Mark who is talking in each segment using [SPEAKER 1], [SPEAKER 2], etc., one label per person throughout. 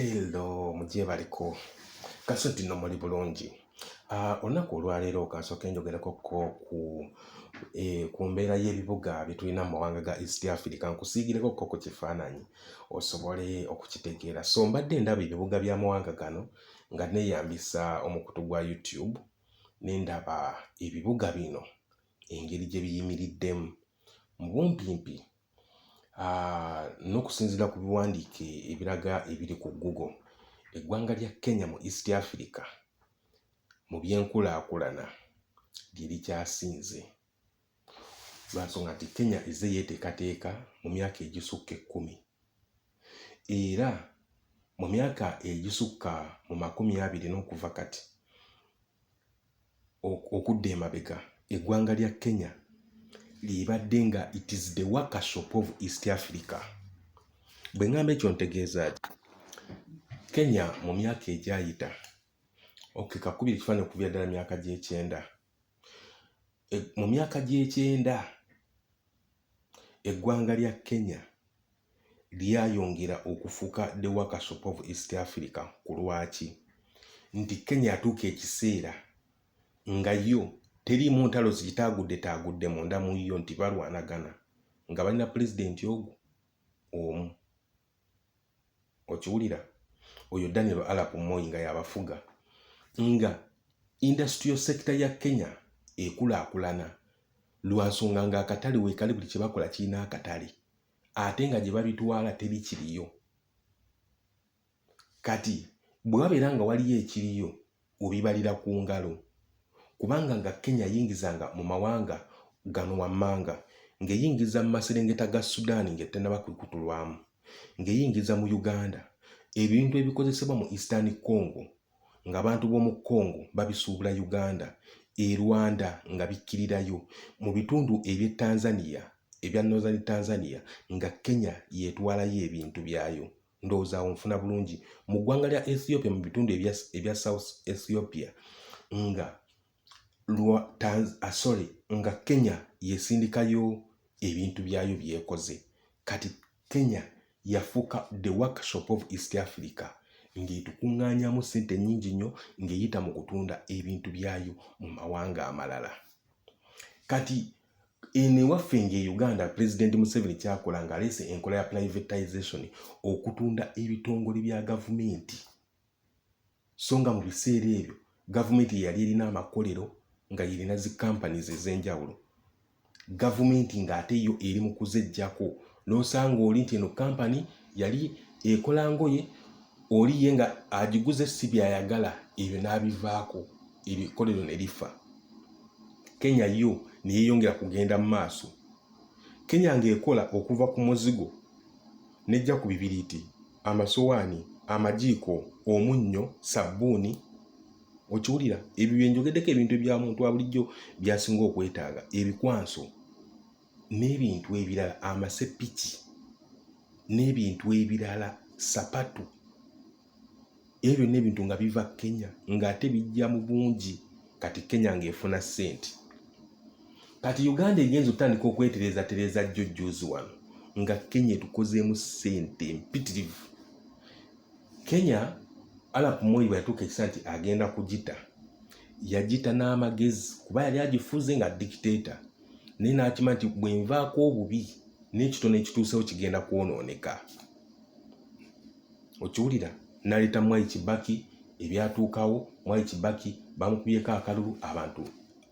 [SPEAKER 1] hello mugyebaliko kasuddi no muli bulungi ah, olunaku olwaleero kansooke njogereko ko ku eh, ku mbeera y'ebibuga byetulina mu mawanga ga east africa nkusiigireko ko ku kifaananyi osobole okukitegeera so mbadde ndaba ebibuga by'amawanga gano nga neeyambisa omukutu gwa youtube ne ndaba ebibuga bino engeri gye biyimiriddemu mu bumpimpi Ah, n'okusinziira ku biwandiike ebiraga ebiri ku Google, eggwanga lya Kenya mu East Africa mu by'enkulaakulana lye likyasinze lwa nsonga nti Kenya ezze yeeteekateeka mu myaka egisukka ekkumi era mu myaka egisukka mu makumi abiri n'okuva kati okudda emabega eggwanga lya Kenya lyebadde nga it is the workshop of East Africa. Bwe ngamba ekyo ntegeeza ki? Kenya mu myaka egyayita okay, kakubira ekifaananyi okubira ddala myaka gy'ekyenda e, mu myaka gy'ekyenda eggwanga lya Kenya lyayongera okufuka the workshop of east africa ku lwaki nti kenya atuuka ekiseera nga yo teriimu ntalo zigitaagudde munda mu yo nti balwanagana nga balina pulezidenti ogu omu okiwulira oyo daniel alap moyi nga yabafuga nga industrial sector ya kenya ekulaakulana lwansonga nga akatale wekali buli kyebakola kirina akatale ate nga gye babitwala teri kiriyo kati bwe wabeera nga waliyo ekiriyo obibalira ku ngalo kubanga nga Kenya yingizanga mu mawanga gano wammanga ng'eyingiza mu maserengeta ga Sudan ng'ettanaba kwekutulwamu ng'eyingiza mu Uganda ebintu ebikozesebwa mu Eastern Congo ng'abantu b'omu Congo babisuubula Uganda e Rwanda nga bikkirirayo mu bitundu eby'e Tanzania ebya Northern Tanzania nga Kenya yeetwalayo ebintu byayo ndowooza awo nfuna bulungi mu ggwanga lya ethiopia mu bitundu ebya south ethiopia nga lwa ah, sorry nga kenya yesindikayo ebintu byayo byekoze kati kenya yafuuka the workshop of east africa ng'etukuŋŋaanyamu ssente nnyingi nnyo ng'eyita mu kutunda ebintu byayo mu mawanga amalala kati Eno ewaffe nga e Uganda Pulezidenti Museveni kyakola ng'aleese enkola ya privatization okutunda ebitongole bya gavumenti so nga mu biseera ebyo gavumenti yeyali erina amakolero nga yerina zi companies ez'enjawulo gavumenti ng'ate yo eri mu kuzeggyako n'osanga oli nti eno kampani yali ekola ngoye oli ye nga agiguze si byayagala ebyo n'abivaako ebyo ekkolero ne lifa kenya yo ne yeeyongera kugenda mu maaso kenya ng'ekola okuva ku muzigo n'ejja ku bibiriiti amasowaani amajiiko omunnyo sabbuuni okiwulira ebyo byenjogeddeko ebintu ebya muntu wa bulijjo byasinga okwetaaga ebikwanso n'ebintu ebirala amasepiki n'ebintu ebirala sapatu ebyo byonna ebintu nga biva kenya ng'ate bijja mu bungi kati kenya ng'efuna ssente kati uganda egenza otandika okwetereezatereeza jjo jjuuzi wano nga kenya etukozeemu ssente empitirivu kenya alap moyi bwe yatuuka ekisa nti agenda kugita yagita n'amagezi kuba yali agifuze nga dikiteeta naye n'akima nti bwe nvaako obubi n'ekitono ekituusewo kigenda kwonooneka okiwulira naleeta mwai kibaki ebyatuukawo mwai kibaki bamukubyeko akalulu abantu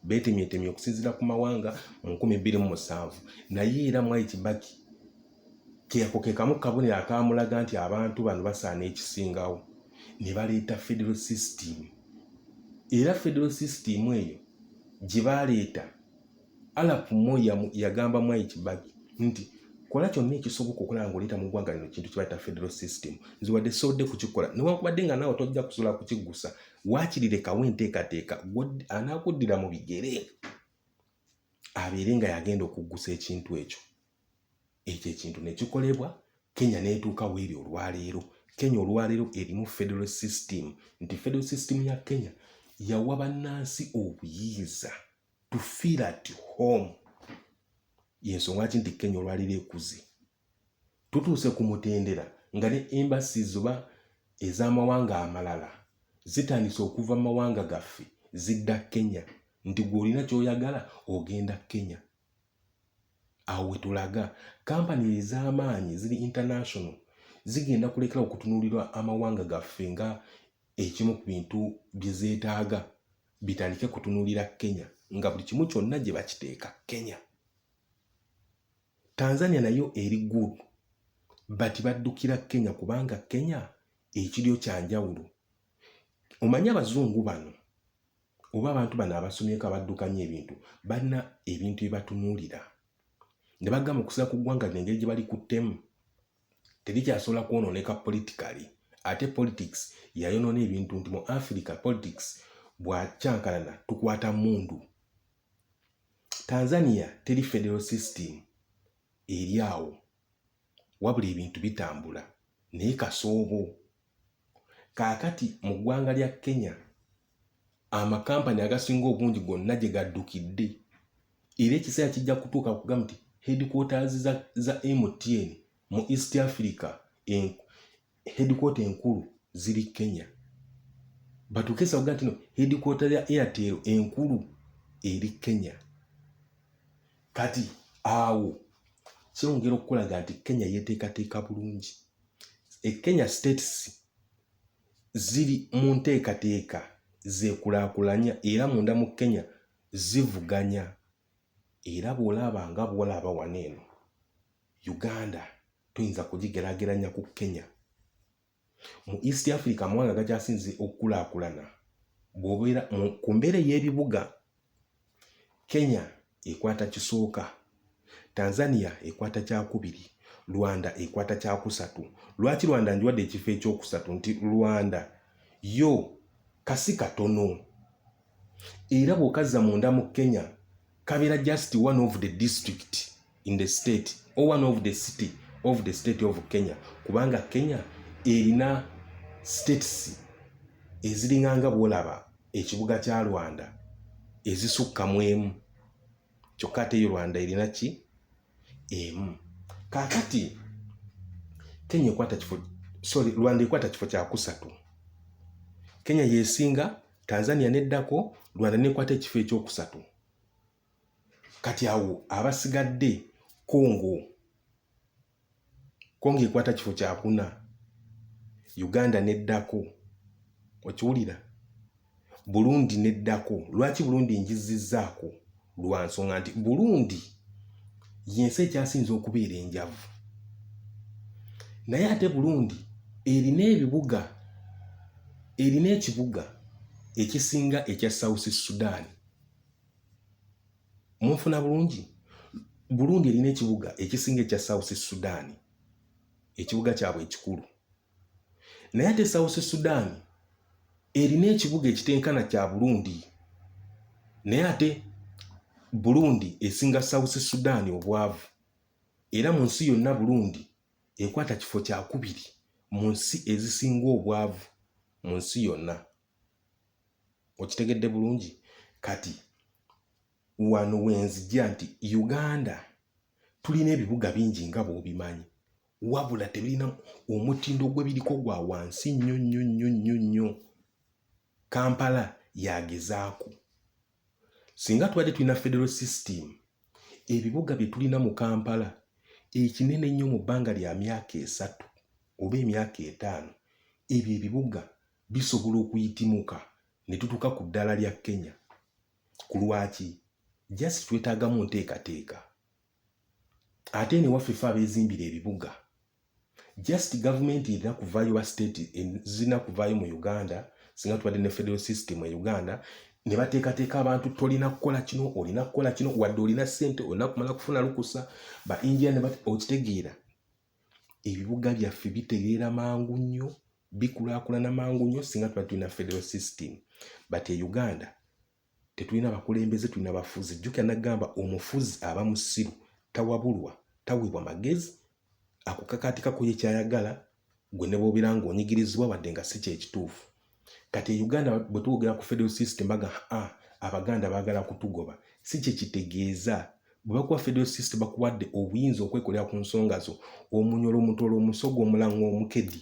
[SPEAKER 1] beetemyetemye okusinziira ku mawanga mu nkumi bbiri mu musanvu naye era mwai kibaki Keako ke kamu kabonero akaamulaga nti abantu bano basaana ekisingawo ne baleeta federal system era federal system eyo gye baaleeta alapu moya yagamba mwai kibaki nti kola kyonna ekisoboka okulaba ngaoleeta mu ggwanga lino kintu kibaita federal system nze wadde sodde kukikola newankubadde nga naawe tojja kusobola kukiggusa wakirirekawo enteekateeka anaakuddira mu bigere abeere nga yagenda okuggusa ekintu ekyo ekyo ekintu ne kikolebwa kenya n'etuuka weeri olwaleero kenya olwaleero erimu federal system nti federal system ya kenya yawa bannansi obuyinza to feel at home yensonga ki nti kenya olwaleero ekuze tutuuse ku mutendera nga ne embasi zoba ez'amawanga amalala zitandise okuva mu mawanga gaffe zidda kenya nti gweolina kyoyagala ogenda kenya awo wetulaga kampani ez'amaanyi ziri international zigenda kulekera okutunuulirwa amawanga gaffe nga ekimu ku bintu bye zeetaaga bitandike kutunuulira kenya nga buli kimu kyonna gye bakiteeka kenya tanzania nayo eri good but baddukira kenya kubanga kenya ekiryo kyanjawulo omanyi abazungu bano oba abantu bano abasomyeko abaddukanya ebintu balina ebintu bye batunuulira ne bagamba okusira ku ggwanga lino engeri gye bali ku ttemu terikyasobola kwonooneka politikali ate politics yayonoona ebintu nti mu africa politics bwakyankalana tukwata mundu tanzania teri federal system eri awo wabula ebintu bitambula naye kasoobo Kaakati mu ggwanga lya Kenya amakampani agasinga obungi gonna gye gaddukidde era ekiseera kijja kutuuka kugamba nti headquarters za, za MTN mu East Africa en, headquarter enkulu ziri Kenya batuuke esaa kuga nti no headquarter ya Airtel enkulu eri Kenya kati awo kyongera okukulaga nti Kenya yeteekateeka bulungi ekenya states ziri mu nteekateeka zekulaakulanya era munda mu kenya zivuganya era bwolaba nga bwolaba wano eno uganda tuyinza kugigerageranya ku kenya mu east africa amawanga gakyasinze okukulaakulana bwobeera ku mbeera ey'ebibuga Kenya ekwata kisooka, Tanzania ekwata kyakubiri, Rwanda ekwata kyakusatu. Lwaki Rwanda njiwadde ekifo ekyokusatu nti Rwanda yo kasi katono era bw'okazza munda mu Kenya kabeera just one of the district in the state or one of the city of the state of kenya kubanga kenya erina states eziringanga bwolaba ekibuga kya rwanda ezisukka mu emu kyokka ate yo rwanda erina ki emu kakati kenya ekwata kifo sorry rwanda ekwata kifo kyakusatu kenya yesinga tanzania neddako rwanda nekwata ekifo ekyokusatu kati awo abasigadde congo congo ekwata kifo kyakuna uganda neddako okiwulira burundi neddako lwaki burundi njizizzaako lwa nsonga nti burundi yensi ekyasinza okubeera enjavu naye ate burundi erina ebibuga erina ekibuga ekisinga ekya south sudan munfuna bulungi burundi erina ekibuga ekisinga ekya south sudan ekibuga kyabwe ekikulu naye ate south sudan erina ekibuga ekitenkana kya burundi naye ate burundi esinga south sudan obwavu era mu nsi yonna burundi ekwata kifo kyakubiri mu nsi ezisinga obwavu mu nsi yonna okitegedde bulungi kati wano wenzija nti uganda tulina ebibuga bingi nga bwobimanyi wabula tebirina omutindo gwebiriko gwa wansi nnyo nnyo nnyo nnyo nnyo kampala yagezaaku singa tubadde tulina federal system ebibuga bye tulina mu kampala ekinene ennyo mu bbanga lya myaka esatu oba emyaka etaano ebyo ebibuga bisobola okuyitimuka ne tutuuka ku ddaala lya Kenya. Ku lwaki? Just twetaagamu nteekateeka. Ate eno ewaffe fe abeezimbira ebibuga, just gavumenti erina kuvaayo ba state zirina kuvaayo mu Uganda singa tubadde ne federal system e Uganda ne bateekateeka abantu tolina kukola kino olina kukola kino wadde olina ssente olina kumala kufuna lukusa ba injia okitegeera ebibuga byaffe bitereera mangu nnyo bikulaakulana mangu nnyo singa tuba tulina federal system but e uganda tetulina bakulembeze tulina bafuzi jjukira nagamba omufuzi aba musiru tawabulwa taweebwa magezi akukakaatikako ye kyayagala gwe ne bwobeera ng'onyigirizibwa wadde nga si kyekituufu kati e uganda bwe twogera ku federal system baga ah, abaganda baagala kutugoba si kye kitegeeza bwe bakuwa federal system bakuwadde obuyinza okwekolera ku nsonga zo omunyolo omutola omusogo omulanga omukedi